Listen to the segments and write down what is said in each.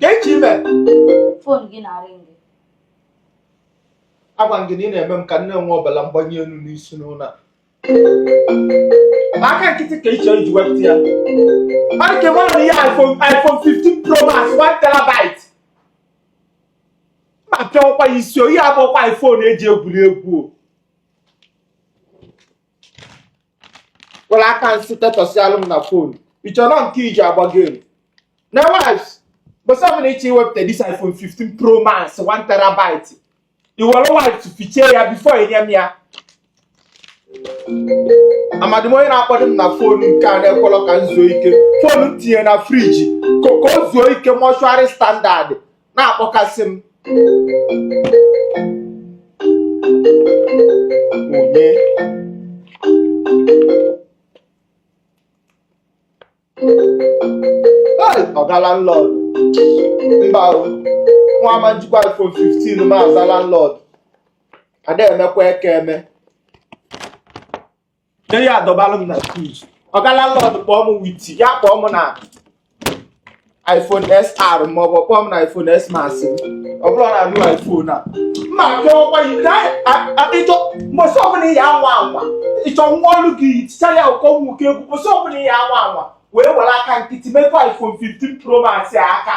Kechi ime. Fon gị na-arị gị. Agwa gị na ị na-eme m ka m nwee ọbala mgbanye elu n'isi n'ụlọ a. Aka nkịtị ka ị chọ iji wepụta ya. Mmadụ ka enwere ihe iPhone iPhone 15 Pro Max 1 terabyte. Ma pịa ọkwa ya isi o, ihe a abụọkwa iPhone eji egwuri egwu o. were aka nsị tetọsịalụ m na fon ịchọrọ nke iji agba gem na wipes mbọsị ọbụla ịchọ iwepụta this iphone 15 pro max 1 terabyte i were wipes fichaa ya before i nye m ya amadi m onye na-akpọdo m na fon nke a na-ekwelọ ka m zuo ike fon m tinye na friji ka ka o zuo ike mortuary standard na-akpọkasị m onye ọga landlord mba nwa ama m jikwa iPhone 15 ma aza landlord ada emekwa eke eme nye ya adọbalụ m na skuul ọga landlord kpọọ m witi ya kpọọ m na iphone xr ma ọ bụ kpọọ m na iphone xs max ọ bụrọ na new iphone a mma kpọọkwa ya na a- a- ịchọ mbọsị ọbụla ị ya anwa anwa ịchọ nwa ọlụ gị ticha ya ụkọ nwoke egwu mbọsị ọbụla ị ya anwa anwa wee were aka nkịtị metụkwa iphone 15 pro max a aka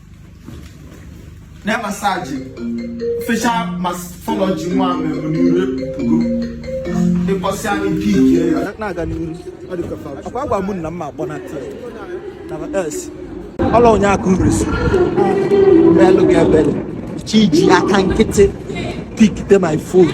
na massage facial morphology nwa mmemme n'iru puku ịkpọsị anyị piki ya na-aga n'iru ọ dị ka fa akwa agwa mụ na mma akpọ na tii na s ọla onye aka uresi belụ ga-ebele chi ji aka nkịtị pikite my phone